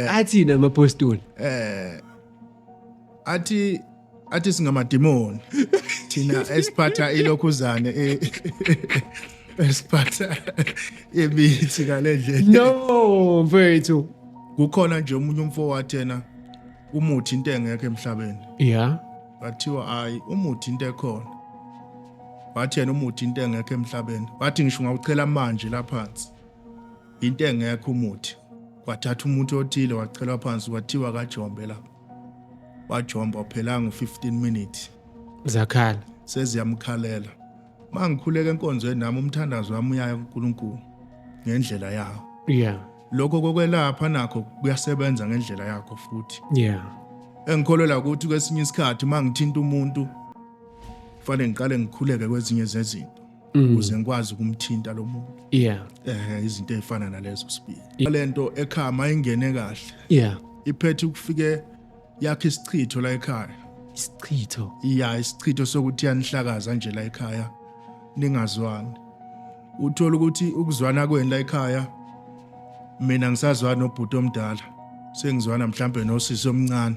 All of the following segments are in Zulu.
eh. athina amapostoli eh athi athi singamadimoni thina esiphatha ilokhuzane e- esiphatha imithi ngalendlela no mfethu kukhona nje umunye umfo wathena umuthi into engekho emhlabeni yeah bathiwa hayi umuthi into ekhona wathi yena umuthi into engekho emhlabeni wathi ngisho ngawuchela manje laphansi Into engekho umuthi. Kwathatha umuthi othile wachelwa phansi kwathiwa kajombe la. Wajomba uphelanga u-15 minutes. Zakhala. Seziyamkhalela. Mangikhuleka enkonzweni nami umthandazo wami uyaya kuNkulunkulu ngendlela yawo. Yeah. Lokho kokwelapha nakho kuyasebenza ngendlela yakho futhi. Yeah. Engikholelwa ukuthi kwesinye isikhathi mangithinta umuntu kufanele ngiqale ngikhuleke kwezinye zezinto. mm. ukuze ngikwazi ukumthinta lo muntu yeah eh izinto ezifana nalezo sibili yeah. lento ekhaya mayingene kahle yeah iphethe ukufike yakhe isichitho la ekhaya isichitho iya isichitho sokuthi yanihlakaza nje la ekhaya ningazwani uthola ukuthi ukuzwana kweni la ekhaya mina ngisazwana nobhuti omdala sengizwana mhlambe nosisi omncane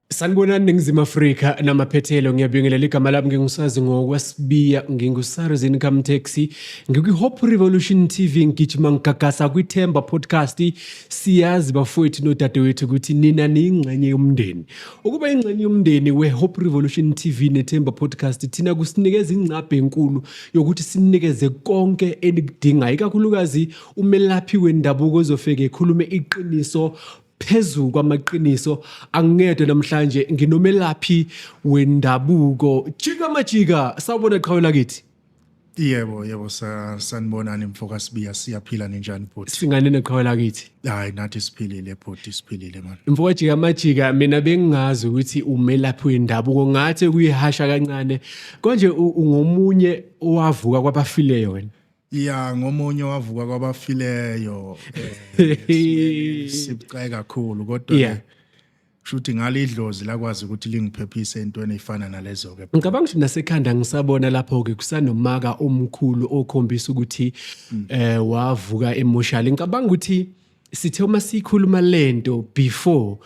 Sanibonani Ningizimu Afrika namaphethelo ngiyabingelela igama lami ngingusazi ngokwasibiya nginguSars Income Taxi ngikwi-Hope Revolution TV ngigijima ngigagasa kwithemba podcast siyazi bafowethu nodadewethu ukuthi nina niyingxenye yomndeni ukuba ingxenye yomndeni we-Hope Revolution TV nethemba podcast thina kusinikeza ingcabhe enkulu yokuthi sinikeze konke enikudingayo ikakhulukazi umelaphi wendabuko ozofike ekhulume iqiniso phezu kwamaqiniso angingedwa namhlanje nginomelaphi wendabuko jika majika sawubona qhawe lakithi Yebo yebo sanibonani mfoka Sibiya siyaphila ninjani bhuti singane neqhawe lakithi hayi nathi siphilile bhuti siphilile manje mfoka jika majika mina bengingazi ukuthi umelaphi wendabuko ngathi kuyihasha kancane konje ungomunye owavuka kwabafileyo wena ya ngomunye wavuka kwabafileyo eh, sibucayi kakhulu kodwa yeah. shuthi ngale idlozi lakwazi ukuthi lingiphephise entweni efana nalezo ke ngicabanga ukuthi nasekhanda ngisabona lapho ke kusanomaka omkhulu okhombisa ukuthi mm. eh wavuka emotional ngicabanga ukuthi sithe uma sikhuluma lento before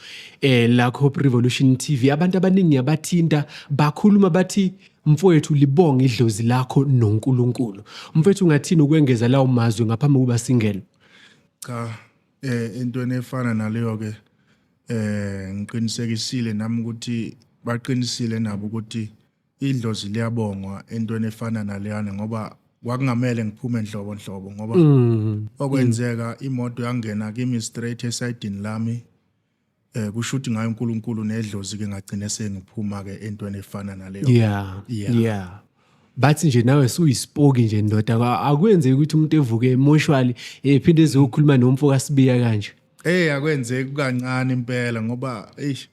eh la Hope Revolution TV abantu abaningi abathinta bakhuluma bathi mfowethu libonga idlozi lakho noNkulunkulu mfowethu ungathini ukwengeza lawo mazwi ngaphambi kokuba singene cha eh into efana naleyo ke eh ngiqinisekisile nami ukuthi baqinisile nabo ukuthi idlozi liyabongwa entweni efana naleyana ngoba kwakungamele ngiphume nhlobo nhlobo ngoba mm. okwenzeka imoto yangena kimi straight esayidini lami eh kusho ukuthi ngayo uNkulunkulu nedlozi ke ngagcine sengiphuma ke entweni efana naleyo yeah yeah, yeah. bathi nje nawe suyisipoki nje ndoda akwenzeki ukuthi umuntu evuke emotionally ephinde ezokhuluma nomfo kaSibiya kanje eh akwenzeki kancane impela ngoba eish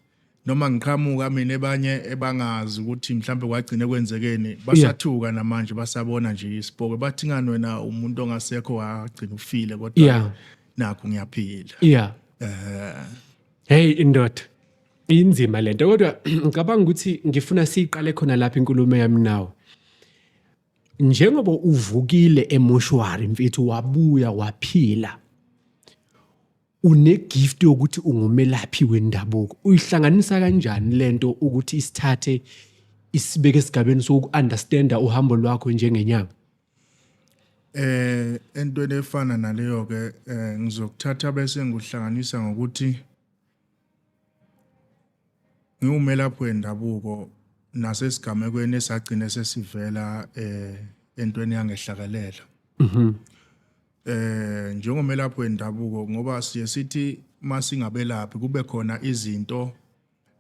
noma ngiqhamuka mina ebanye ebangazi ukuthi mhlawumbe kwagcine kwenzekeni basathuka yeah. namanje basabona nje isibhoko bathi ngani wena umuntu ongasekho wagcina ufile kodwa yeah. nakho ngiyaphila yeah. uh, hey indoda inzima lento kodwa ngicabanga ukuthi ngifuna siyiqale khona lapha inkulumo yami nawe njengoba uvukile emoshwari mfethu wabuya waphila unegift yokuthi ungumelaphi wendabuko uyihlanganisa kanjani lento ukuthi isithathe isibeke esigabeni soku-understanda uhambo lwakho njengenyanga eh entweni efana naleyo ke eh, ngizokuthatha bese ngikuhlanganisa ngokuthi ngiwumelaphi wendabuko nasesigamekweni esagcine sesivela eh entweni yangehlakalela mhm eh njengomelaphi wendabuko ngoba siye sithi masingabelaphi kube khona izinto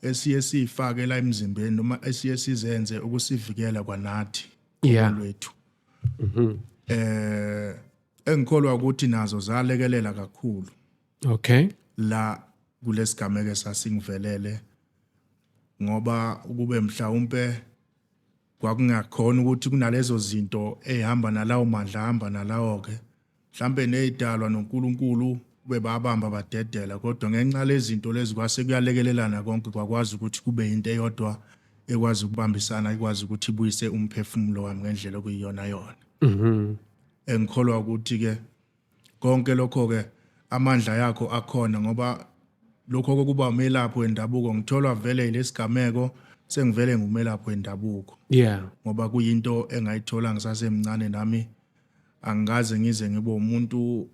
esiye sifake la emzimbeni noma esiye sizenze ukusivikela kwanathi yeah. lwethu mhm eh engikholwa ukuthi nazo zalekelela kakhulu okay la kulesigameke sasingivelele ngoba ukube mhlawumbe Kwakungakhona ukuthi kunalezo zinto ey'hamba nalawo mandla ahamba nalawo-ke mhlawumbe ney'dalwa noNkulunkulu kube babamba badedela kodwa ngenxa lezinto lezi kwase kuyalekelelana konke kwakwazi ukuthi kube yinto eyodwa ekwazi ukubambisana ikwazi ukuthi ibuyise umphefumulo wami ngendlela okuyiyona yona mhm. engikholwa ukuthi-ke Konke lokho-ke amandla yakho akhona ngoba lokho kokuba umelaphi wendabuko ngitholwa vele ilesigameko sengivele ngumelaphi wendabuko yeah ngoba kuyinto engayithola ngisasemncane nami angikaze ngize ngibe umuntu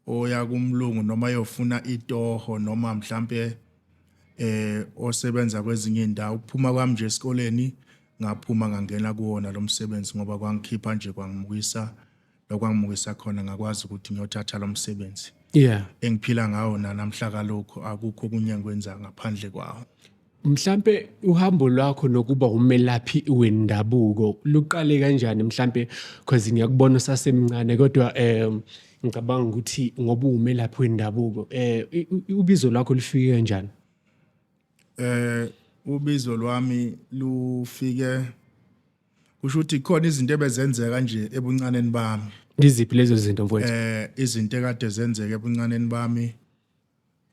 oya kumlungu noma yofuna itoho noma mhlambe eh osebenza kwezinye indawo ukuphuma kwami nje esikoleni ngaphuma ngangena kuwona lo msebenzi ngoba kwangikhipha nje kwangibuyisa nokwangimukisa khona ngakwazi ukuthi ngiyothatha lo msebenzi yeah engiphila ngawo nanamhla kalokho akukho okunye engikwenza ngaphandle kwawo mhlampe uhambo lwakho nokuba umelaphi wendabuko luqale kanjani mhlampe because ngiyakubona usasemncane kodwa um ngicabanga ukuthi ngoba umelaphi wendabuko eh ubizo lwakho lufike kanjani eh ubizo lwami lufike kusho ukuthi khona izinto ebezenzeka nje ebuncaneni bami iziphi lezo zinto mfowethu eh izinto ekade zenzeka ebuncaneni bami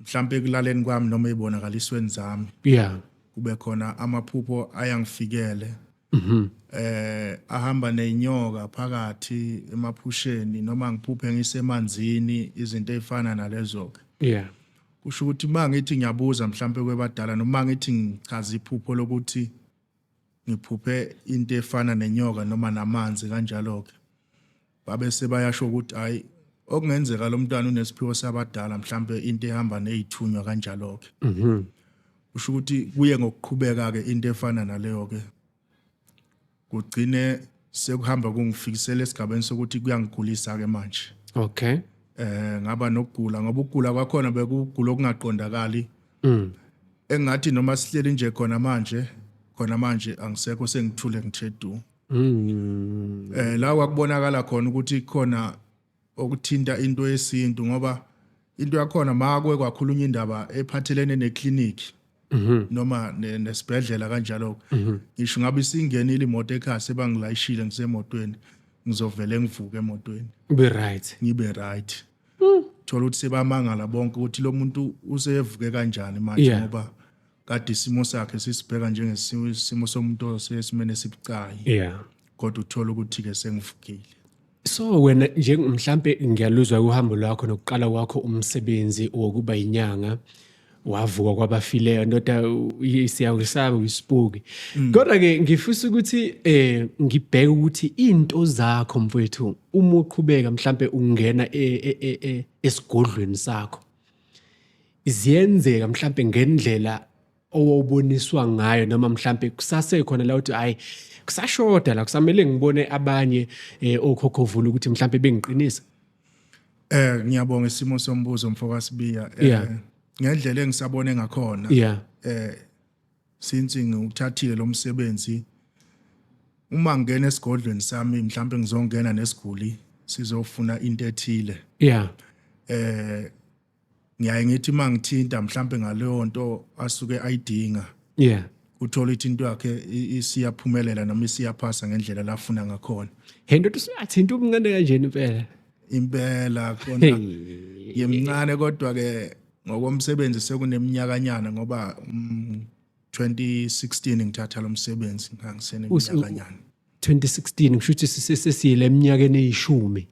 mhlambe ekulaleni kwami noma ezibonakalisweni zami yeah kube khona amaphupho ayangifikele mhm eh ahamba nezinyoka phakathi emaphusheni noma ngiphuphe ngisemanzini izinto ezifana nalezo ke yeah kusho ukuthi uma ngithi ngiyabuza mhlampe kwebadala noma ngithi ngichaza iphupho lokuthi ngiphuphe into efana nenyoka noma namanzi kanjalo-ke babe sebayasho ukuthi hhayi okungenzeka lo mntwana unesiphiwo sabadala mhlawumbe into ehamba neyithunywa kanjalo-ke mhm. usho ukuthi kuye ngokuqhubeka-ke into efana naleyo-ke kugcine sekuhamba kungifikisela esigabeni sokuthi kuyangigulisa-ke manje okay eh ngaba nokugula ngoba ukugula kwakhona bekugula okungaqondakali mm. engathi noma sihleli nje khona manje khona manje angisekho sengithule ngithe du mm. eh la kwakubonakala khona ukuthi khona okuthinta into yesintu ngoba into yakhona makwe kwakhulunywa indaba ephathelene neclinic mhm. noma nesibhedlela kanjalo mhm. ngisho ngabe isingenile imoto ekhasi ebangilayishile ngisemotweni ngizovele ngivuke emotweni ube right ngibe right Hmm. Thola ukuthi sebamangala bonke ukuthi lo muntu usevuke kanjani manje Yeah. ngoba kade isimo sakhe sisibheka njengesimo somuntu osesimene esibucayi yeah kodwa uthola ukuthi-ke sengivukile so wena nje mhlampe ngiyaluzwa uhambo lwakho nokuqala kwakho umsebenzi wokuba yinyanga wavuka kwabafileyo ndoda siyakusaba uyisibuki mm. kodwa ke ngifisa ukuthi eh ngibheke ukuthi into zakho mfowethu uma uqhubeka mhlambe ungena e, e, e, esigodlweni sakho ziyenzeka mhlambe ngendlela owawuboniswa ngayo noma mhlambe kusasekhona la uthi hayi kusashoda la kusamele ngibone abanye eh, okhokhovula ukuthi mhlambe bengiqinisa Eh ngiyabonga isimo sombuzo mfoka Sibiya. Eh, Yeah. Ngendlela engisabone ngakhona. yeah eh since ngiwuthathile lo msebenzi uma ngingena esigodlweni sami mhlawumbe ngizongena nesiguli sizofuna into ethile yeah eh ngiyaye ngithi uma ngithinta mhlawumbe ngaleyo nto asuke ayidinga yeah uthola ukuthi into yakhe isiyaphumelela noma isiyaphasa ngendlela lafuna ngakhona hey ndoda usuyathinta umncane kanjena impela impela khona yemncane kodwa ke ngokomsebenzi sekuneminyakanyana ngoba 2016 mm, ngithatha lo msebenzi ngangiseneminyakanyana 2016 ngisho ukuthi sesiyile eminyakeni eyishumi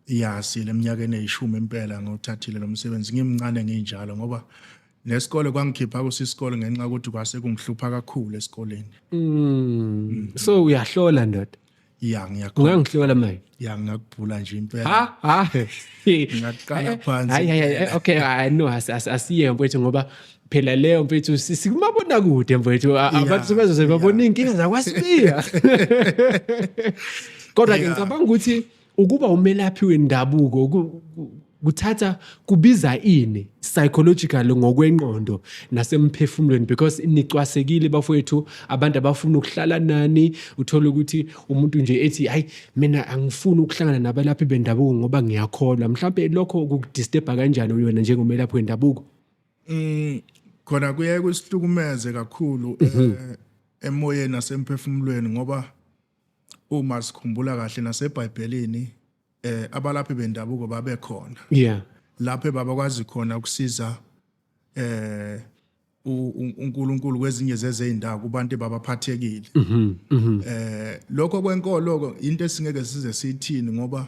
Iyasi leminyakeni eyishumi impela ngothathile lo msebenzi ngimncane nginjalo ngoba nesikole kwangikhipha kusisikole ngenxa yokuthi kwase kungihlupha kakhulu esikoleni. Mm. Mm. So uyahlola ndoda. Ya ngiyakhola. Ungangihlola manje. Ya ngakubhula nje impela. Ha ha. Ngaqala phansi. Hayi hayi okay I know asiye mfethu ngoba phela leyo mfethu sikumabona kude mfethu abantu sebezoze babona inkinga zakwasibiya kodwa ke ngicabanga ukuthi ukuba umelaphi wendabuko kuthatha kubiza ini psychological ngokwenqondo nasemphefumulweni because nicwasekile bafowethu abantu abafuna ukuhlala nani uthole ukuthi umuntu nje ethi hayi mina angifuni ukuhlangana nabalaphi bendabuko ngoba ngiyakholwa mhlawumbe lokho kukudisturba kanjani uyona njengomelaphi wendabuko mm khona kuye kusihlukumeze kakhulu mhm. eh, emoyeni nasemphefumulweni ngoba uma sikhumbula kahle naseBhayibhelini eh abalaphi bendabuko babe khona yeah lapho baba kwazi khona ukusiza eh uNkulunkulu kwezinye zezindawo kubantu abaphathekile mhm, mhm. eh lokho kwenkolo into esingeke size sithini ngoba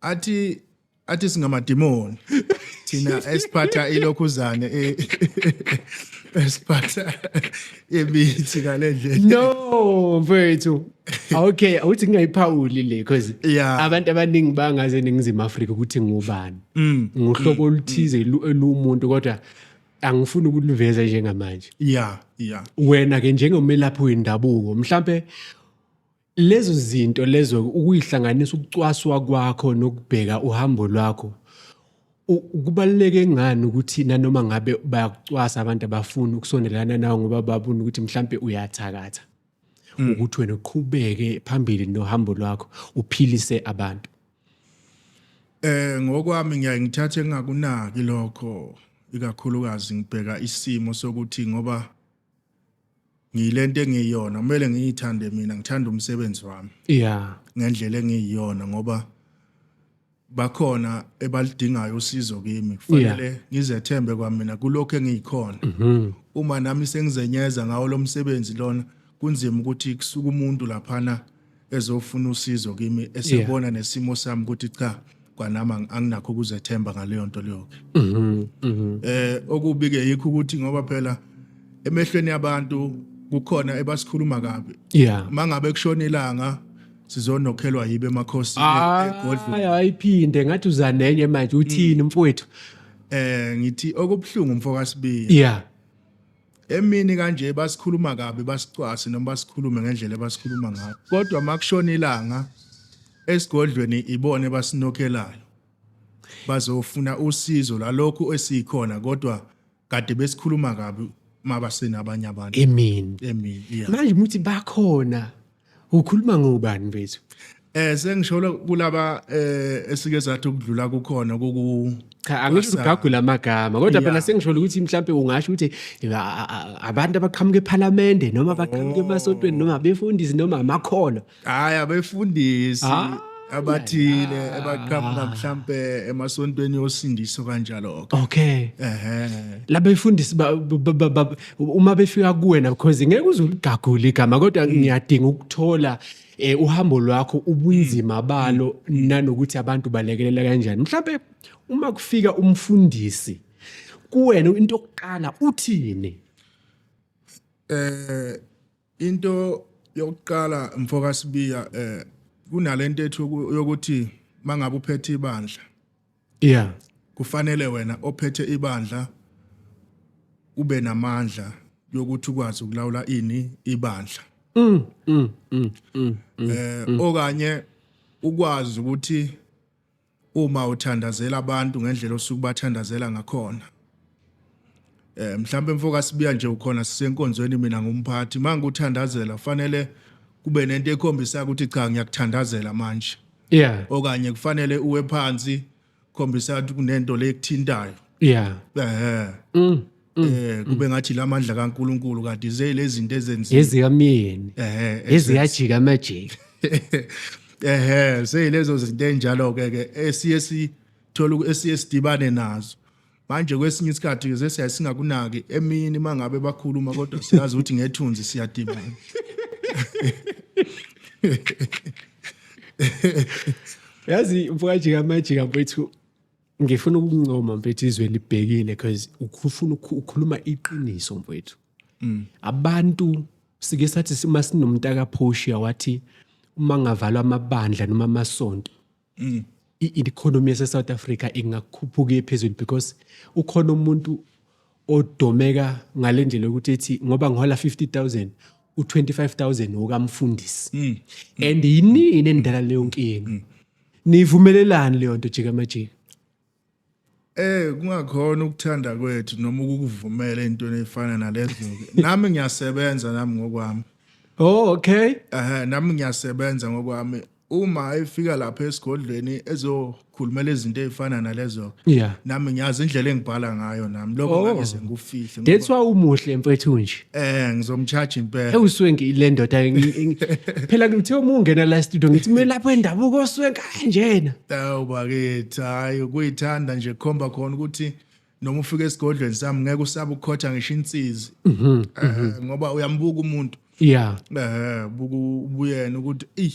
athi athi singamadimoni thina esiphatha ilokhuzane e- esiphatha imithi ngalendlela no mfethu okay awuthi ngingayiphawuli le because Yeah. abantu abaningi bangaze eningizimu afrika ukuthi ngubani Mm. nguhlobo oluthize lu- luwumuntu kodwa angifuni ukuliveza njengamanje yeah yeah wena-ke njengomelaphi wendabuko mhlampe Lezo zinto lezo ukuyihlanganisa ukucwaswa kwakho nokubheka uhambo lwakho kubaluleke ngani ukuthi nanoma ngabe bayakucwasa abantu abafuni ukusondelana nawe ngoba babona ukuthi mhlampe uyathakatha mm. ukuthi wena uqhubeke phambili nohambo lwakho uphilise abantu eh ngokwami ngiyaye ngithathe engakunaki lokho ikakhulukazi ngibheka isimo sokuthi ngoba ngiyilento engiyiyona kumele ngiyithande mina ngithanda umsebenzi wami yeah ngendlela engiyiyona ngoba bakhona ebalidingayo usizo kimi kufanele ngizethembe kwamina kulokho engiyikhona mhm. uma nami sengizenyeza ngawo lo msebenzi lona kunzima ukuthi kusuke umuntu laphana ezofuna usizo kimi esebona yeah. nesimo sami ukuthi cha kwanami anginakho ukuzethemba ngaleyo nto leyoke mm -hmm, mm -hmm. eh okubike yikho ukuthi ngoba phela emehlweni yabantu kukhona ebasikhuluma kabi yeah mangabe kushona ilanga sizonokhelwa yibe emakhosini ah, egodlweni ayiphinde ngathi uzanenye manje uthini mm. mfowethu eh ngithi okubuhlungu mfoka Sibiya yeah Emini kanje basikhuluma kabi basicwase noma basikhulume ngendlela ebasikhuluma ngayo. Kodwa makushona ilanga esigodlweni ibone basinokhelayo. Bazofuna usizo lalokhu esikhona kodwa kade besikhuluma kabi mabasena abanye abantu. Emini. Emini. Yeah. Manje muthi bakhona Ukhuluma ngobani mfethu? Eh sengisholo kulaba eh esike sathi ukudlula kukhona koku cha angisho ugagula amagama kodwa phela sengisholo ukuthi mhlambe ungasho ukuthi abantu abaqhamuka ePhalamende noma abaqhamuka oh. emasontweni noma befundisi noma amakholwa hayi abefundisi ah, abathile abaqhamuka mhlambe emasontweni yosindiso kanjalo okay ehe labefundisi uma befika kuwena because ngeke uze uligagule igama kodwa mm. ngiyadinga ukuthola eh uhambo lwakho ubunzima mm. balo mm. nanokuthi abantu balekelela kanjani mhlawumbe uma kufika umfundisi kuwena into yokuqala uthini eh Into yokuqala mfoka Sibiya eh kunalento ethi yokuthi mangabe uphethe ibandla. Yeah. Kufanele wena ophethe ibandla ube namandla yokuthi ukwazi ukulawula ini ibandla. Mm, mm, mm, mm, mm, eh mm. okanye ukwazi ukuthi uma uthandazela abantu ngendlela osuke bathandazela ngakhona eh mhlawumbe mfoka sibuya nje ukhona sisenkonzweni mina ngumphathi manje uthandazela fanele kube nento ekhombisa ukuthi cha ngiyakuthandazela manje yeah okanye kufanele uwe phansi khombisa ukuthi kunento lekuthintayo yeah eh mm. Mm. eh kube mm. ngathi lamandla kaNkuluNkulu kade zeyilezinto ezenziwa ezikamyeni eh eziyajika amajiki eh seyilezo zinto enjalo ke ke esiye sithola esiye sidibane nazo manje kwesinye isikhathi ke sesiya singakunaki emini mangabe bakhuluma kodwa siyazi ukuthi ngethunzi siyadibana yazi mfowajika amajika mfowethu ngifuna ukuncoma mfethu izwe libhekile because ufuna ukukhuluma iqiniso mfethu mm. abantu sike sathi sima sinomuntu akaphoshiya wathi uma ngavalwa amabandla noma amasonto mm. i-economy yase-south africa ingakhuphuka phezulu because ukhona umuntu odomeka ngale ndlela yokuthi ethi ngoba ngihola 50000 u25000 wokamfundisi mm. and yinini endala leyo nkinga mm. nivumelelani leyo nto jika majika Eh kungakhona ukuthanda kwethu noma ukuvumela into efana nalezo nami ngiyasebenza nami ngokwami Oh okay eh nami ngiyasebenza ngokwami uma efika lapha esigodlweni ezokhulumela izinto ezifana nalezo yeah nami ngiyazi indlela engibhala ngayo nami lokho oh. ngeke sengufihle that's why umuhle mfethu nje eh ngizomcharge impela ewuswenki le ndoda phela ngithe uma ungena la studio ngithi mina lapho endabuko oswenka kanjena awubakithi hayi kuyithanda nje khomba khona ukuthi noma ufika esigodlweni sami ngeke usabe ukukhotha ngisho insizi mhm, Eh, mhm. ngoba uyambuka umuntu yeah eh buku ubuyena ukuthi ey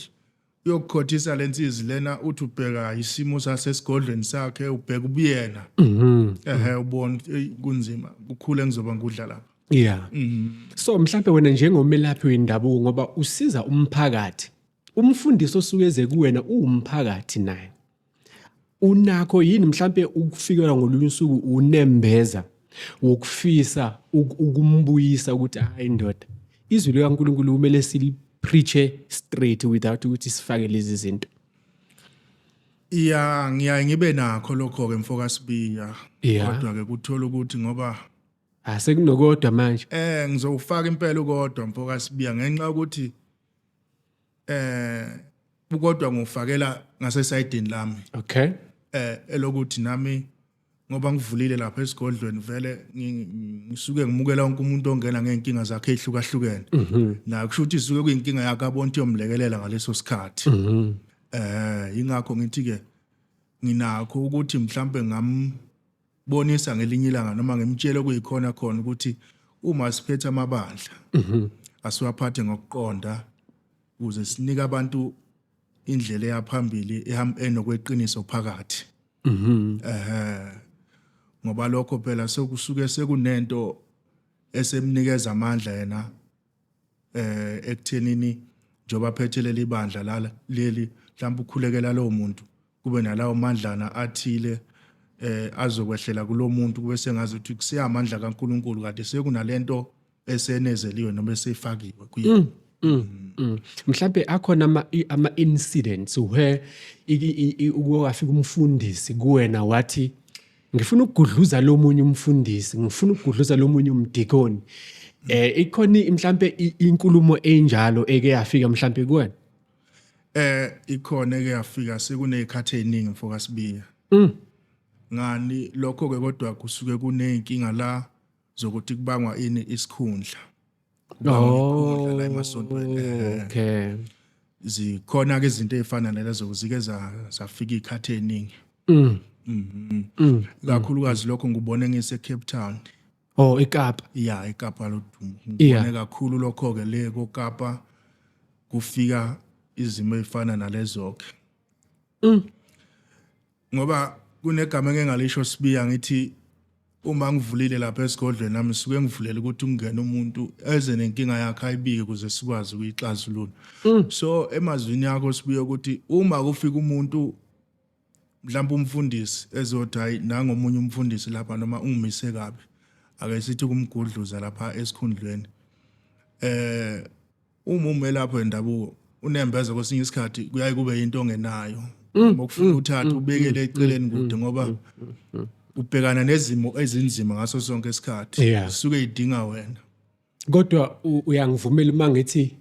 uyokukhothisa lensizi lena uthi ubheka isimo sasesigodlweni sakhe ubheka ubuyena mhm. eh ubona ukuthi, "Ey, kunzima kukhule ngizoba ngudla lapha yeah Mhm. so mhlawumbe wena njengomelaphi wendabuko ngoba usiza umphakathi umfundisi osuke eze kuwena uwumphakathi naye unakho yini mhlampe ukufikelwa ngolunye usuku unembeza wokufisa ukumbuyisa ukuthi hayi ndoda izwi likaNkulunkulu kumele silipreache straight without ukuthi sifake lezi zinto iya ngiyaye ngibe nakho lokho ke mfoka Sibiya kodwa ke kuthola ukuthi ngoba asekunokodwa ah, manje eh ngizowufaka impela ukodwa mfoka Sibiya ngenxa ukuthi eh ukodwa ngofakela ngase side lami okay eh elokuthi nami ngoba ngivulile lapha esigodlweni vele ngisuke ngimukela wonke umuntu ongena ngeenkinga zakhe ehlukahlukene mhm. na kusho ukuthi isuke kuyinkinga yakhe abonto yomlekelela ngaleso sikhathi mhm. eh ingakho ngithi ke nginakho ukuthi mhlambe ngam bonisa ngelinye ilanga noma ngimtshele kuyikhona khona ukuthi uma siphethe amabandla mhm. asiwaphathe ngokuqonda ukuze sinike abantu indlela eyaphambili enokweqiniso phakathi mhm. eh ngoba lokho phela sekusuke sekunento esemnikeza amandla yena eh ekuthenini njoba phethe leli bandla lala leli mhlawumbe ukhulekela lowo muntu kube nalawo mandlana athile eh azokwehlela kulomuntu kube sengazi ukuthi kuseyamandla kaNkuluNkulu kade sekunalento esenezeliwe noma esefakiwe kuyena mm. Mm, mm. mhlawumbe akhona ama-incidents where ukuyowafika umfundisi kuwena wathi ngifuna ukugudluza lo munye umfundisi ngifuna ukugudluza lo munye umdikoni eh ikhona mhlambe inkulumo enjalo eke yafika mhlambe kuwena eh ikhona eke yafika sekunezikhathi eziningi mfoka sibiya mm. ngani lokho ke kodwa kusuke kunenkinga la zokuthi kubangwa ini isikhundla oh, la emasontweni eh. okay zikhona ke izinto ezifana nalezo zike zafika ikhathi eningi mm. mhm mm. kakhulukazi lokho ngubone ngise Cape Town oh eKapa yeah eKapa lodumo ngibone kakhulu lokho ke le koKapa kufika izimo ezifana nalezo ke mm. ngoba kunegama engengalisho sibiya ngithi uma ngivulile lapha esigodlweni nami suke ngivulela ukuthi kungena umuntu eze nenkinga yakhe ayibike ukuze sikwazi ukuyixazulula mm. so emazwini yakho sibuye ukuthi uma kufika umuntu mhlawumbe umfundisi ezothi hayi nangomunye umfundisi lapha noma ungimise kabi ake sithi kumgudluza lapha esikhundlweni eh Uma umelaphi wendabuko unembeza kwesinye isikhathi kuyaye kube yinto ongenayo. Mm, Ngokufuna mm, uthatha mm, ubekele eceleni kude ngoba ubhekana nezimo ezinzima ngaso sonke isikhathi. Yeah. Suke idinga wena. Kodwa u- uyangivumela uma ngithi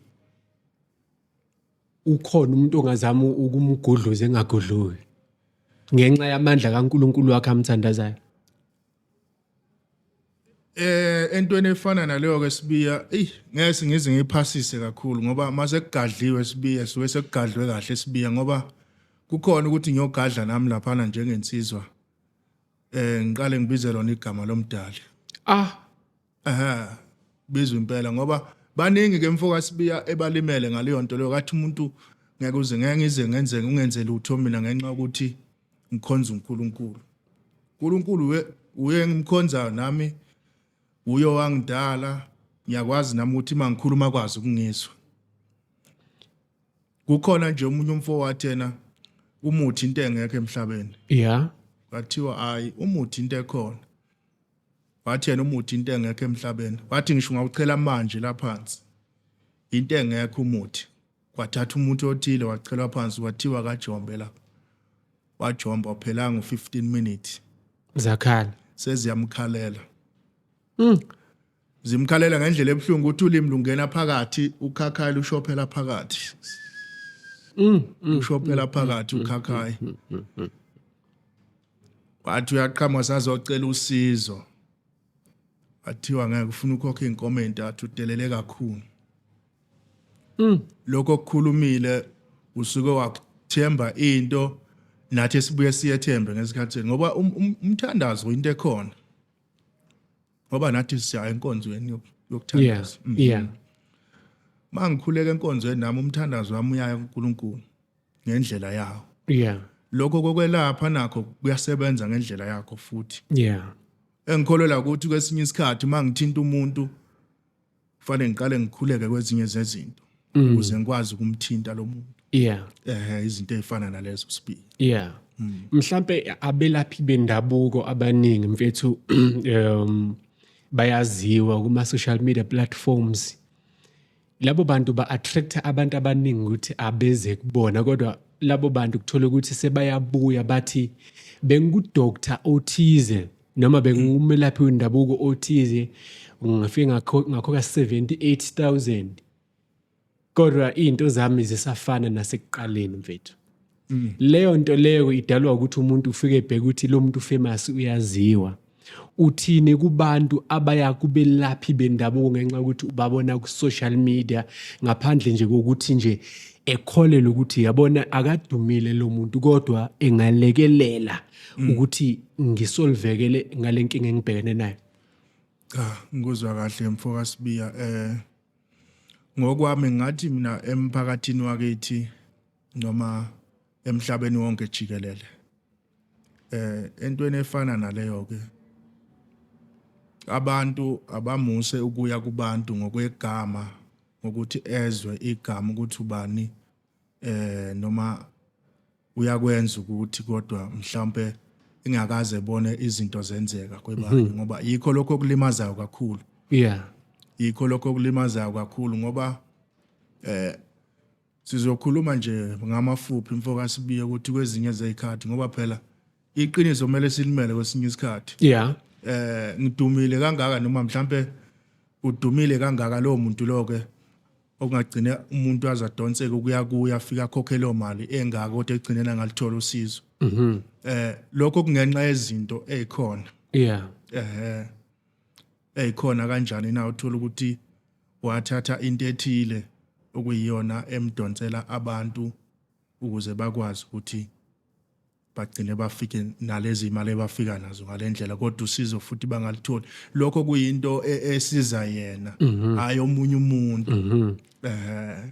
ukhona umuntu ongazama ukumgudluza engagudluki ngenxa yamandla kaNkulunkulu wakhe amthandazayo. eh entweni efana naleyo ke sibiya ey ngeke ngize ngiphasise kakhulu ngoba mase kugadliwe sibiya siwe sekugadlwe kahle sibiya ngoba kukhona ukuthi ngiyogadla nami laphana njengensizwa eh ngiqale ngibize lona igama lomdali ah aha bizwe impela ngoba baningi ke mfoka sibiya ebalimele ngaleyo nto leyo kathi umuntu ngeke uze ngeke ngize ngenze ungenze lutho mina ngenxa ukuthi ngikhonza uNkulunkulu uNkulunkulu we uye ngimkhonzayo nami uyo wangidala ngiyakwazi nami ukuthi mangikhuluma kwazi ukungizwa kukhona nje umunye umfo wathena umuthi into engekho emhlabeni yeah kwathiwa hayi umuthi into ekhona wathi yena umuthi into engekho emhlabeni wathi ngisho ngawuchela manje laphansi into engekho umuthi Kwathatha umuntu othile wacelwa phansi kwathiwa kajombe la. Wajomba uphelanga u-15 minutes. Zakhala. Seziyamkhalela. Mm. Zimkhalela ngendlela ebuhlungu ukuthi ulimi lungena phakathi ukhakhayi lushophela phakathi. Mm. mm ushophela mm, phakathi mm, ukhakhayi. Wathi uyaqhama sazocela usizo. athiwa ngeke ufuna ukhokha inkomo entathu udelele kakhulu mm. lokho okukhulumile usuke wakuthemba into nathi sibuye siyethembe ngesikhathi ngoba um, um, umthandazo into ekhona ngoba nathi siya enkonzweni yokuthandaza yeah, mm. yeah. mangikhuleka enkonzweni nami umthandazo wami uyaya kuNkulunkulu ngendlela yawo yeah lokho kokwelapha nakho kuyasebenza ngendlela yakho futhi yeah engikholelwa ukuthi kwesinye isikhathi uma ngithinta umuntu kufanele ngiqale ngikhuleke kwezinye zezinto mm. ukuze ngikwazi ukumthinta lo muntu yeah eh izinto ezifana nalezo sibili yeah mm. mhlambe abelaphi bendabuko abaningi mfethu um bayaziwa kuma social media platforms labo bantu ba-attract abantu abaningi ukuthi abeze kubona kodwa labo bantu kuthola ukuthi sebayabuya bathi bengikudoktar othize noma bengumelaphi wendabuko othize ngafike ngakhokha 78000 kodwa izinto zami zisafana nasekuqaleni mfethu mm. leyo nto leyo idalwa ukuthi umuntu ufike ebheke ukuthi lo muntu famous uyaziwa uthini kubantu abaya kubelaphi bendabuko ngenxa yokuthi ubabona ku-social media ngaphandle nje kokuthi nje ekholelwe ukuthi yabona akadumile lo muntu kodwa engalekelela mm. ukuthi ngisolvekele ngale nkinga engibhekene nayo cha ngikuzwa kahle mfo kasibiya eh ngokwami ngathi mina emphakathini wakithi noma emhlabeni wonke jikelele eh entweni efana naleyo ke abantu abamuse ukuya kubantu ngokwegama ngokuthi ezwe igama ukuthi ubani eh noma uyakwenza ukuthi kodwa mhlambe ingakaze ebone izinto zenzeka kwebani mhm. ngoba yikho lokho okulimazayo kakhulu yeah yikho lokho okulimazayo kakhulu ngoba eh Sizokhuluma nje ngamafuphi mfoka Sibiye ukuthi kwezinye zezikhathi ngoba phela iqiniso kumele silimele kwesinye isikhathi. Yeah. Eh ngidumile kangaka noma mhlambe udumile kangaka lowo muntu lo ke okungagcine umuntu azadonseke ukuya kuya afika khokhe leyo mali engaka kodwa egcinena ngalithola usizo. Mhm. Eh lokho kungenxa yezinto ezikhona. Yeah. Eh ezikhona kanjani na uthola ukuthi Wathatha into ethile okuyiyona emdonsela abantu ukuze bakwazi ukuthi bagcine bafike nalezi imali ebafika nazo ngalendlela kodwa usizo futhi bangalitholi lokho kuyinto e, esiza yena mhm. hayi omunye umuntu mhm. eh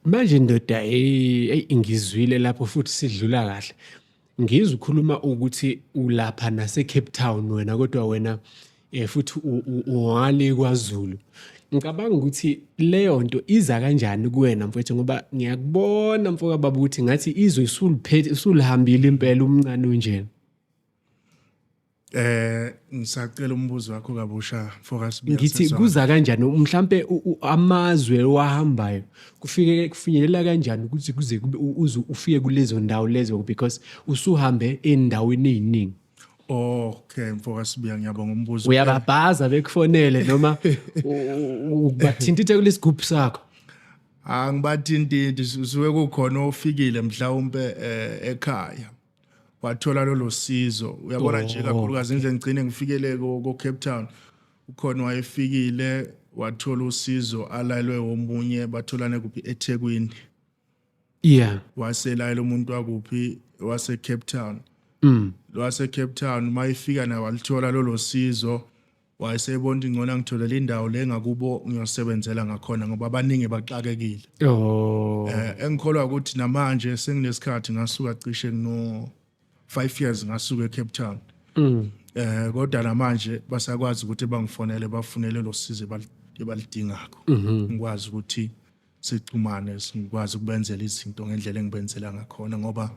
manje ndoda hey ingizwile lapho futhi sidlula kahle Ngizwe ukhuluma ukuthi ulapha naseCape Town wena kodwa wena um futhi ungale kwaZulu. Ngicabanga ukuthi leyo nto iza kanjani kuwena mfwethu ngoba ngiyakubona mfo kababa ukuthi ngathi izwe isuliphethe isulihambile impela umncane unjena. Eh ngisacela umbuzo wakho kabusha focus ngithi kuza kanjani mhlambe amazwe wahambayo kufike kufinyelela kanjani ukuthi kuze kube uze ufike kulezo ndawo lezo because usuhambe endaweni eziningi Okay mfoka Sibiya ngiyabonga umbuzo uyababhaza bekufonele noma ubathintithe kulesigubhu sakho angibathintiti suke kukhona ofikile mhlawumbe eh, ekhaya wathola lolo sizo uyabona nje oh, kakhulukazi indlela ngigcine ngifikele ko-cape town ukhona wayefikile wathola usizo alalwe omunye batholane kuphi ethekwini yeah waselayela umuntu wakuphi wasecape town mm. lwasecape town uma ifika naye walithola lolo sizo wayesebona ukuthi ngcono angitholele indawo le ngakubo ngiyosebenzela ngakhona ngoba abaningi baxakekile oh eh engikholwa ukuthi namanje senginesikhathi ngasuka cishe ngino 5 years ngasuka eCape Town mm. eh kodwa namanje basakwazi ukuthi bangifonele bafunele losizo balidingako mhm. ngikwazi ukuthi sixhumane ngikwazi ukubenzela izinto ngendlela engibenzela ngakhona ngoba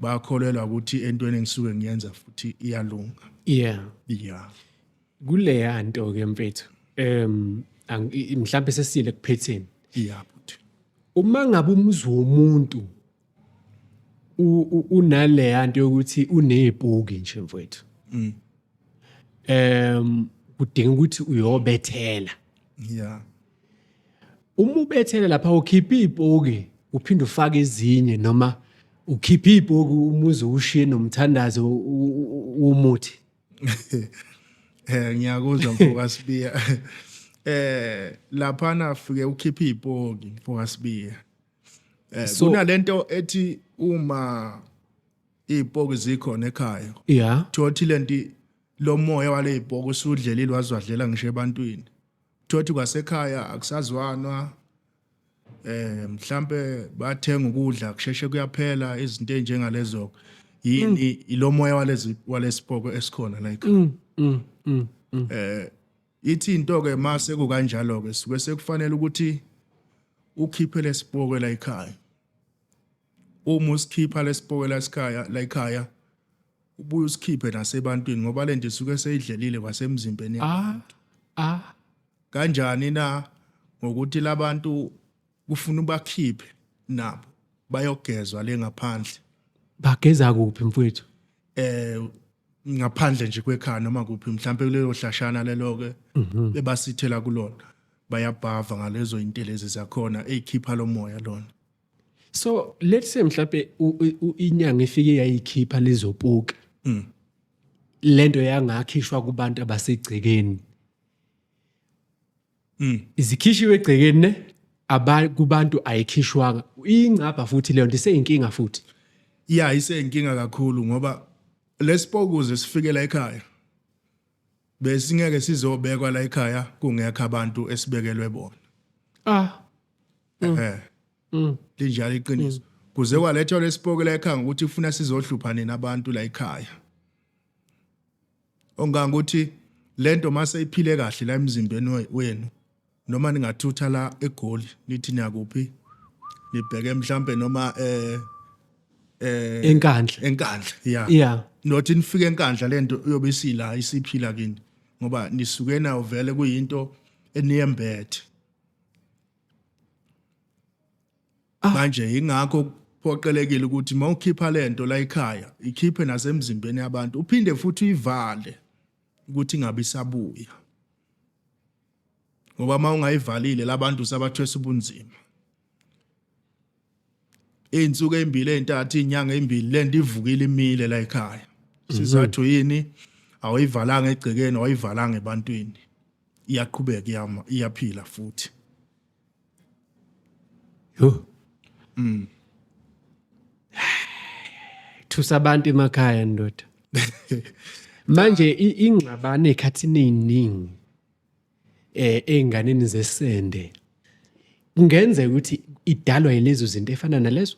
bakholelwa ukuthi entweni engisuke ngiyenza futhi iyalunga yeah yeah kuleya nto ke mfethu em mhlawumbe sesile kuphetheni yeah futhi uma ngabe umuzi womuntu unaleya nto yokuthi unezibuki nje mfowethu mm. em kudinga ukuthi uyobethela yeah uma ubethele lapha ukhipha izibuki uphinde ufake ezinye noma ukhipha izibuki umuzi ushiye nomthandazo womuthi eh ngiyakuzwa mfoka sibiya eh lapha nafike ukhipha izibuki mfoka sibiya eh so, kunalento ethi uma izipoki zikhona ekhaya yeah thothi lenti lomoya wale zipoki usudlelile wazwadlela ngisho ebantwini thothi kwasekhaya akusazwanwa eh mhlambe bathenga ukudla kusheshe kuyaphela izinto enjengalezo yini mm. ilomoya walezi walesipoko esikhona like mm, mm, mm, mm. eh Ithi into-ke uma sekukanjalo-ke suke sekufanele ukuthi ukhiphe lesipoke la ekhaya uma usikhipha lesipoke la ekhaya la ekhaya ubuye usikhiphe nasebantwini ngoba lento isuke seyidlelile kwasemzimbeni ah ah kanjani na ngokuthi labantu kufuna ubakhiphe nabo bayogezwa le ngaphandle bageza kuphi mfowethu eh ngaphandle nje kwekhaya noma kuphi mhlawumbe kulelo hlashana lelo ke mhm. ebasithela kulona bayabhava ngalezo intelezi zakhona ezikhipha lomoya lona so let's say mhlawumbe inyanga ifike yayikhipha lezo puke mm. lento yangakhishwa kubantu abasegcekeni mm. izikhishiwe egcekeni ne kubantu ayikhishwanga ingcabha futhi leyo nto iseyinkinga futhi ya iseyinkinga kakhulu ngoba lesipokuze sifikela ekhaya besingeke sizobekwa la ekhaya kungekho abantu esibekelwe bona ah mm. eh mm. linjalo iqiniso mm. kuze kwalethwa lesipokela ekhaya ukuthi ufuna sizohlupha nina abantu la ekhaya Onganga ukuthi lento mase iphile kahle la emzimbeni wenu noma ningathutha la egoli nithi niyakuphi nibheke mhlambe noma eh eh enkandla enkandla yeah yeah not nifike enkandla lento uyobe isila isiphila kini ngoba nisukena uvele kuyinto eniyembethe ah. manje yingakho phoqelekile ukuthi uma ukhipha lento la ekhaya ikhiphe nasemzimbeni yabantu uphinde futhi uyivale ukuthi ingabe isabuya ngoba uma ungayivalile labantu sabathwesa ubunzima izinsuku ezimbili ezintathu izinyanga ezimbili lento ivukile imile la ekhaya mhm. sizathu yini awuyivalanga egcekeni awayivalanga ebantwini iyaqhubeka iyama iyaphila futhi yo mm thusa abantu emakhaya ndoda manje ingxabano ekhathini eziningi eh einganeni zesende kungenzeka ukuthi idalwa yilezo zinto efana nalezo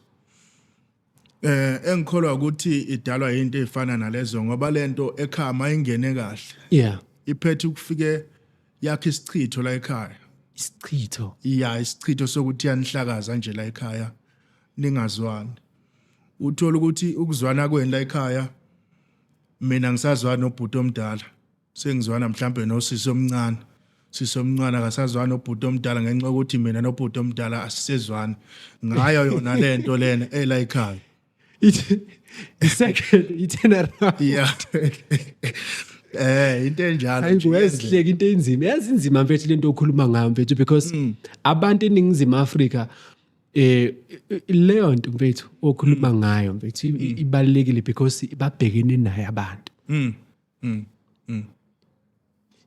eh engikholwa ukuthi idalwa into efana nalezo ngoba lento ekhaya mayingene kahle yeah iphethe ukufike yakhe isichitho la ekhaya isichitho iya isichitho sokuthi yanihlakaza nje la ekhaya ningazwani uthola ukuthi ukuzwana kwenu la ekhaya mina ngisazwana nobhuti omdala Sengizwana mhlambe nosisi omncane. Sisi omncane akasazwana nobhuti omdala ngenxa yokuthi mina nobhuti omdala asisezwani. Ngayo yona le nto lena ela ikhaya. Ithi second itinerary. Yeah. Eh into enjalo. Hayi kuyezihleka into enzima. Yazi inzima mfethu lento okhuluma ngayo mfethu because mm. abantu eningizimu Afrika eh leyo nto mfethu okhuluma mm. ngayo mfethu mm. ibalekile because babhekene naye abantu. Mm. mm. mm.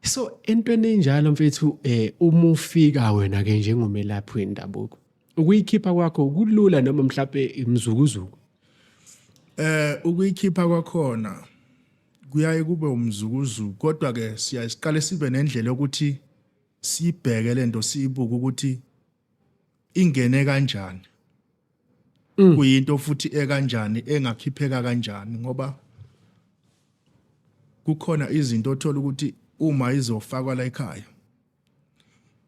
so entweni enjalo mfethu eh uma ufika wena ke njengomelaphi wendabuko ukuyikhipha kwakho kulula noma mhlape imzukuzuku eh ukuyikhipha kwakhona kuyaye kube umzukuzuku kodwa ke siyasiqale sibe nendlela yokuthi sibheke lento siyibuke ukuthi ingene kanjani mm. kuyinto futhi ekanjani engakhipheka kanjani ngoba kukhona izinto othola ukuthi uma izofakwa la ekhaya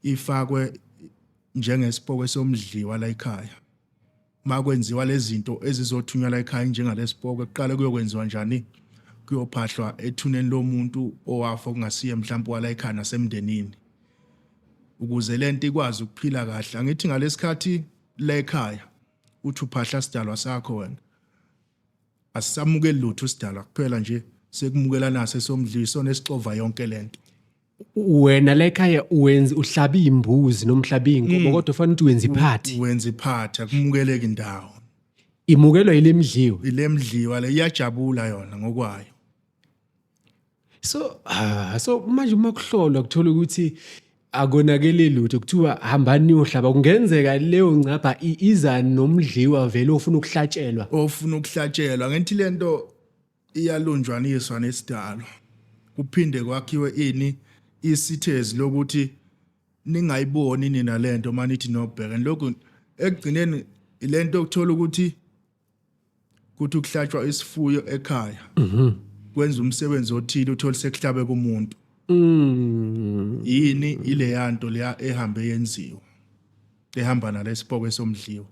ifakwe njengesipoko somdliwa la ekhaya uma kwenziwa lezi zinto ezizothunyelwa ekhaya njengalesipoke kuqale kuyokwenziwa njani kuyophahlwa ethuneni lomuntu owafa okungasiye mhlawumbe wala ekhaya nasemndenini ukuze le nto ikwazi ukuphila kahle angithi ngalesikhathi la ekhaya uthi uphahla sidalwa sakho wena asisamukeli lutho sidalwa kuphela nje sekumukela nase somdliso nesixova yonke lento wena la ekhaya wenza uhlaba iy'mbuzi noma uhlaba iy'nkomo mm. kodwa ufanele ukuthi wenza iphathi wenza iphathi akumukeleki indawo imukelwa yile mdliwa ile mdliwa le iyajabula yona ngokwayo so uh, so manje uma kuhlolwa kuthola ukuthi akonakele lutho kuthiwa hambani niyohlaba kungenzeka leyo ngcapha iza nomdliwa vele ofuna ukuhlatshelwa ofuna ukuhlatshelwa ngenthi lento iyalunjwaniswa nesidalwa kuphinde kwakhiwe ini isithezi lokuthi ningayiboni nina lento manithi nobheka lokhu ekugcineni ilento okuthola ukuthi kuthi ukuhlatshwa isifuyo ekhaya mhm. kwenza umsebenzi othile uthole sekuhlabe kumuntu mm. yini ileyanto leya ehambe yenziwa ehamba nalesipoko esomdliwa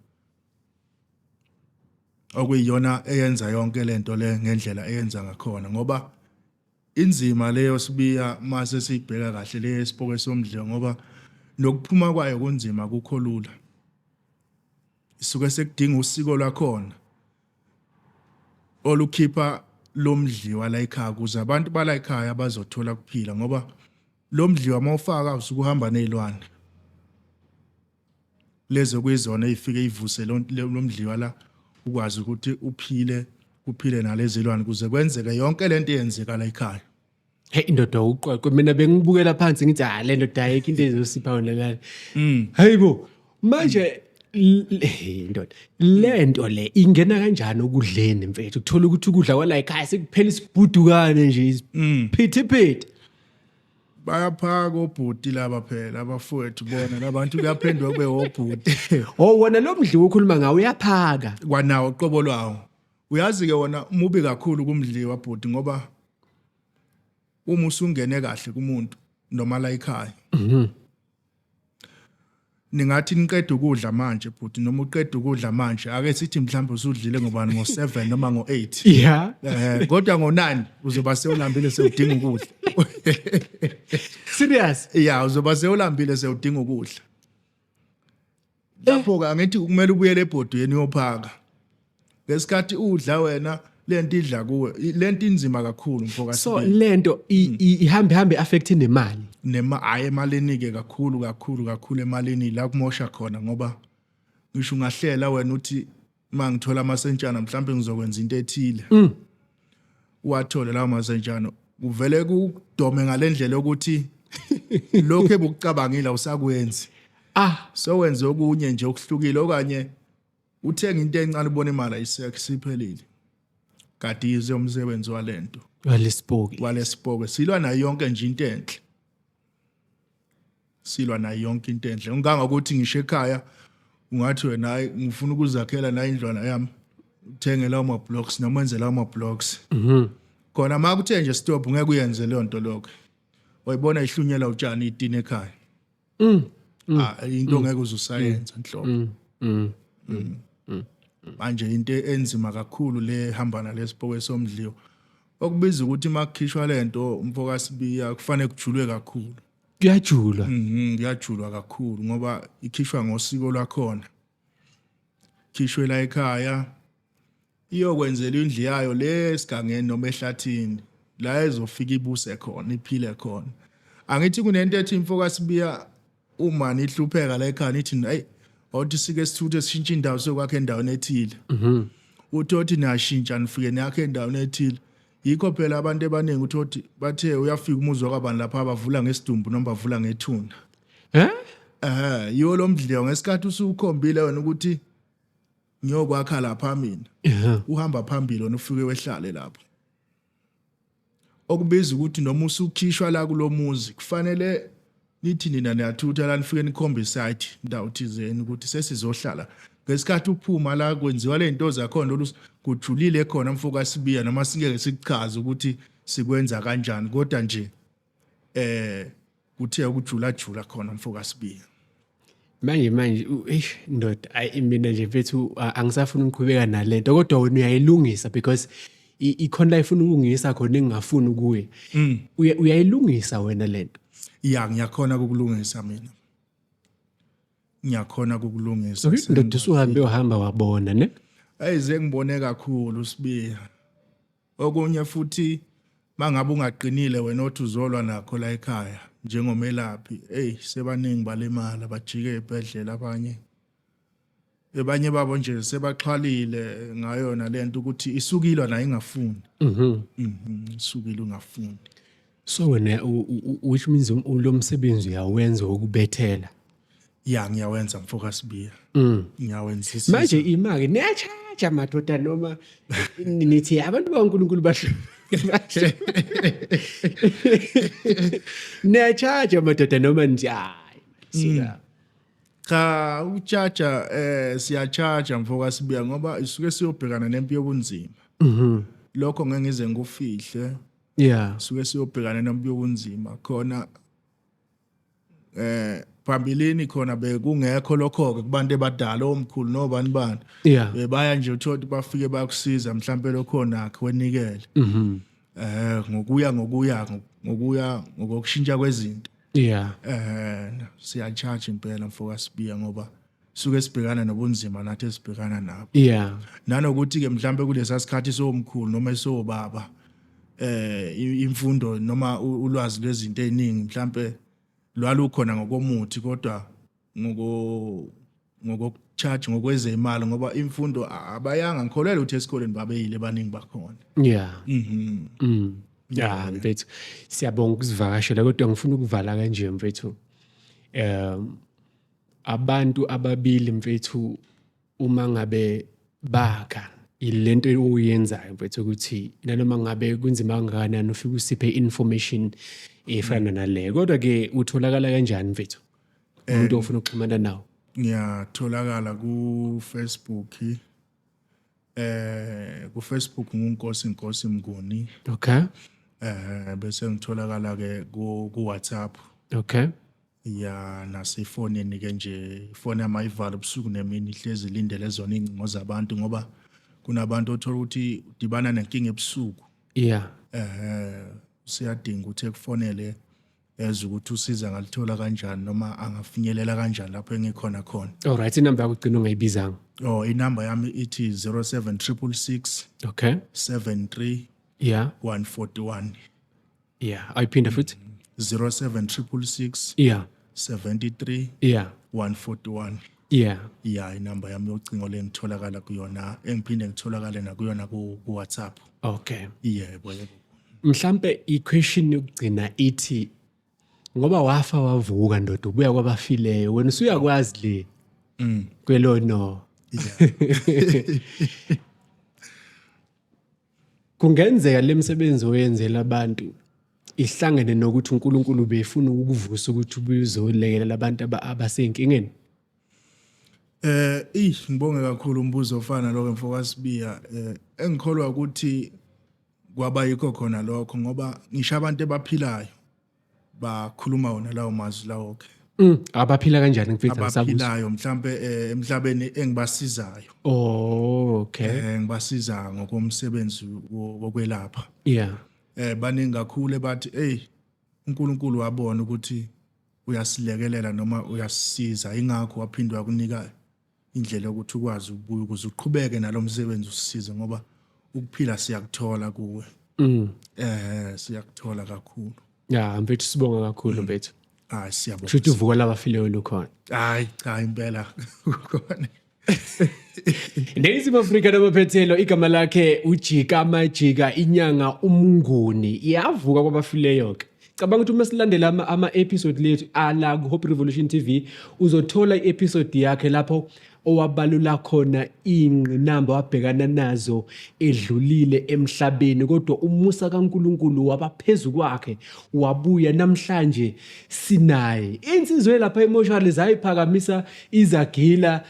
okuyiyona eyenza yonke lento le ngendlela eyenza ngakhona ngoba inzima leyo sibiya mase sibheka kahle le isipoke somdle ngoba nokuphuma kwayo kunzima kukho lula isuke sekudinga usiko lwakhona olukhipha lomdliwa la ekhaya kuze abantu bala ekhaya bazothola kuphila ngoba lomdliwa mawufaka usuke uhamba nezilwane lezi okuyizona ey'fike ivuse lo mdliwa la ukwazi ukuthi uphile kuphile nalezilwane kuze kwenzeke yonke le nto eyenzeka la ekhaya Hey indoda uqweqwe mina bengibukela phansi ngithi ha ah, le ndoda ayikho into ezosipha wena lana. Mm. Hayibo manje indoda le nto le ingena kanjani okudleni mfethu kuthola ukuthi ukudla kwala ekhaya sekuphela isibhudukane nje mm. isiphithiphithi bayaphaka obhuti laba phela abafowethu bona labantu kuyaphendwa kube obhuti oh wona lo mdliwa ukhuluma ngawo uyaphaka kwanawo qobo lwawo uyazi ke wona mubi kakhulu kumdliwa bhuti ngoba uma usungene kahle kumuntu noma la ekhaya mhm. ningathi niqeda ukudla manje bhuti noma uqeda ukudla manje ake sithi mhlawumbe usudlile ngobani ngo-7 noma ngo-8 yeah. um kodwa ngo-9 uzoba sewulambile sewudinga ukudla serious ya uzoba sewulambile sewudinga ukudla lapho ke angithi kumele ubuyele ebhodweni uyophaka ngesikhathi udla wena lento idla kuwe I- lento inzima kakhulu mfoka so Sibili. lento i- Mm. i- ihambe hambe affect nemali nema hayi emalini ke kakhulu kakhulu kakhulu emalini la kumosha khona ngoba ngisho ungahlela wena uthi uma ngithola amasentshana mhlawumbe ngizokwenza into ethile mm. wathole lawo masentshana kuvele kudome ngalendlela ukuthi lokho ebukucabangile usakwenzi ah so wenze okunye nje okuhlukile okanye uthenga into encane ubona imali ayisekho siphelile kadize umsebenzi walento walesipoki walesipoki silwa nayo yonke nje into enhle silwa nayo yonke into enhle ngikanga ukuthi ngisho ekhaya ungathi wena hayi ngifuna ukuzakhela nayo indlwana yami uthengela ama-blocks noma enzela ama-blocks mhm. khona ma kuthe nje stop ngeke uyenze leyo nto lokho wayibona ihlunyela utshani itini ekhaya mm, mm. Ah, into mm. ngeke uzusayenza nhlobo manje into enzima kakhulu le hamba nalesipokwe somdliwa Okubiza ukuthi uma kukhishwa le nto umfokasibiya kufanele kujulwe kakhulu. Kuyajulwa. Mhm, kuyajulwa kakhulu ngoba ikhishwa ngosiko lwakhona. Khishwe la ekhaya iyokwenzela indlu yayo le esigangeni noma ehlathini la ezofika ibuse khona iphile khona. Angithi kunento ethi imfokasibiya uma nihlupheka la ekhaya nithi ayi othi sike sithuthe sishintshe indawo sokwakhe endaweni ethile mhm uthi othi niyashintsha nifike niyakhe endaweni ethile yikho phela abantu abaningi uthi othi bathe uyafika umuzi wakabani lapha abavula ngesidumbu noma bavula ngethuna eh eh yiwo lo mdliwa ngesikhathi usukhombile wena ukuthi ngiyokwakha lapha mina uhamba phambili wena ufike wehlale lapho Okubiza ukuthi noma usukhishwa la kulomuzi kufanele nithi nina niyathutha la nifike nikhombe site ndawo thizeni ukuthi sesizohlala ngesikhathi uphuma la kwenziwa lento zakhona lolu kujulile khona mfoka sibiya noma singeke sikuchaze ukuthi sikwenza kanjani kodwa nje eh kuthe ukujula jula khona mfoka Sibiya manje manje eish ndoda ayi mina nje mfethu angisafuni ukuqhubeka nalento kodwa wena uyayilungisa because ikhona la ifuna ukulungisa khona engingafuni kuye mm. uyayilungisa wena lento ya ngiyakhona ukulungisa mina ngiyakhona ukulungisa ndoda usuhambe uhamba wabona ne ayize ngibone kakhulu sibiya Okunye futhi mangabe ungaqinile wena othi uzolwa nakho la ekhaya njengomelaphi eyi sebaningi balimala bajike ebhedlela abanye ebanye babo nje sebaxhwalile ngayona lento ukuthi isukilwa nayo ingafuni mhm. mhm isukile ungafuni So wena which means um, lo msebenzi uyawenza wokubethela. Ya ngiyawenza mfoka Sibiya. Mm. Ngiyawenzisa. Manje imake niyacharge madoda noma nithi abantu baNkulunkulu basho. Niyacharge madoda noma nje hayi. Sika. Mm. Cha uchaja eh siyachaja mfoka Sibiya ngoba isuke siyobhekana nempi yobunzima. Mhm. Lokho ngeke ngize ngufihle. yeah suke siyobhekana nomuntu okunzima khona eh phambilini khona bekungekho lokho ke kubantu ebadala omkhulu nobani bani yeah bebaya nje uthothi bafike bakusiza mhlambe lokhona ke wenikele mhm eh ngokuya ngokuya ngokuya ngokushintsha kwezinto yeah eh siya charge impela mfoka sibiya ngoba suke sibhekana nobunzima nathi esibhekana nabo yeah nanokuthi ke mhlambe kulesa sikhathi somkhulu noma esobaba eh imfundo noma ulwazi lwezinto eziningi mhlambe lwalukhona ngokomuthi kodwa ngoko ngokocharge ngokwezemali ngoba imfundo abayanga ngikholelwa ukuthi esikoleni babeyile baningi bakhona yeah mhm mm yeah mfethu siyabonga ukuzivakashela kodwa ngifuna ukuvala kanje mfethu um abantu ababili mfethu uma ngabe bakha ilento oyenzayo mfethu ukuthi nanoma ngabe kunzima kangakanani ufike usiphe information efana nale kodwa ke utholakala kanjani mfethu umuntu ofuna ukuxhumana nawo ngiyatholakala ku Facebook eh ku Facebook ngunkosi inkosi mnguni okay eh bese ngitholakala ke ku ku WhatsApp okay ya nasefonini ke nje ifoni yami ayivala ubusuku nemini ihlezi ilindele zona iy'ngcingo zabantu ngoba kunabantu othola ukuthi udibana nenkinga ebusuku yeah eh siyadinga ukuthi ekufonele eze ukuthi usiza ngalithola kanjani noma angafinyelela kanjani lapho engikhona khona all right inamba yakho ugcina ungayibizanga oh inamba yami ithi 07666 okay 73 yeah 141 yeah ayiphinde futhi 07666 yeah 73 yeah 141 yeah yeah inamba yami yocingo lengitholakala kuyona engiphinde ngitholakale nakuyona ku ku WhatsApp okay yebo yebo mhlambe iquestion yokugcina ithi ngoba wafa wavuka ndoda ubuya kwabafileyo wena usuyakwazi le mm kwelo no yeah Kungenzeka le misebenzi oyenzela abantu ihlangene nokuthi uNkulunkulu befuna ukukuvusa ukuthi ubuye uzolekelela abantu abasenkingeni. Eh, ish ngibonge kakhulu umbuzo ofana lokho mfokasibiya. Eh, engikholwa ukuthi kwaba yikho khona lokho ngoba ngisho abantu ebaphilayo bakhuluma wona lawo mazwi lawo ke Mm, abaphila kanjani mfethu angisabuza. abaphilayo mhlambe eh, emhlabeni engibasizayo Oh, okay. eh, ngibasiza ngokomsebenzi wo- wokwelapha Yeah. eh baningi kakhulu bathi hey uNkulunkulu wabona ukuthi uyasilekelela noma uyasisiza ingakho waphindwa kunika indlela yokuthi ukwazi ukubuya ukuze uqhubeke nalo msebenzi usisize ngoba ukuphila siyakuthola kuwe mm. eh siyakuthola kakhulu ya mfethu sibonga kakhulu mm. mfethu hayi siyabonga shuthi uvuka labafileyo lukhona hayi cha impela kukhona Neyizimo Afrika nobaphethelo igama lakhe ujika majika inyanga umnguni iyavuka kwabafileyo ke cabanga ukuthi uma silandela ama-episode lethu ala ku-hope revolution t v uzothola i-episode yakhe lapho owabalula khona iy'ngqinamba wabhekana nazo edlulile emhlabeni kodwa umusa kaNkulunkulu wabaphezu kwakhe wabuya namhlanje sinaye insizwe lapha emoshali zayiphakamisa izagila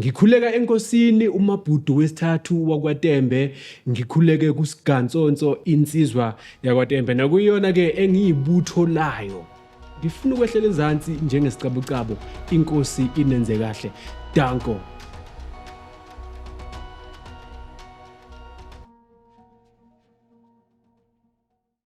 Ngikhuleka enkosini umabhudu wesithathu wakwaTembe, ngikhuleke kuSigantsonso insizwa yakwaTembe nakuyona ke engiyibutho layo. Ngifuna ukwehlela ezansi njengesicabucabo inkosi inenze kahle. Danko.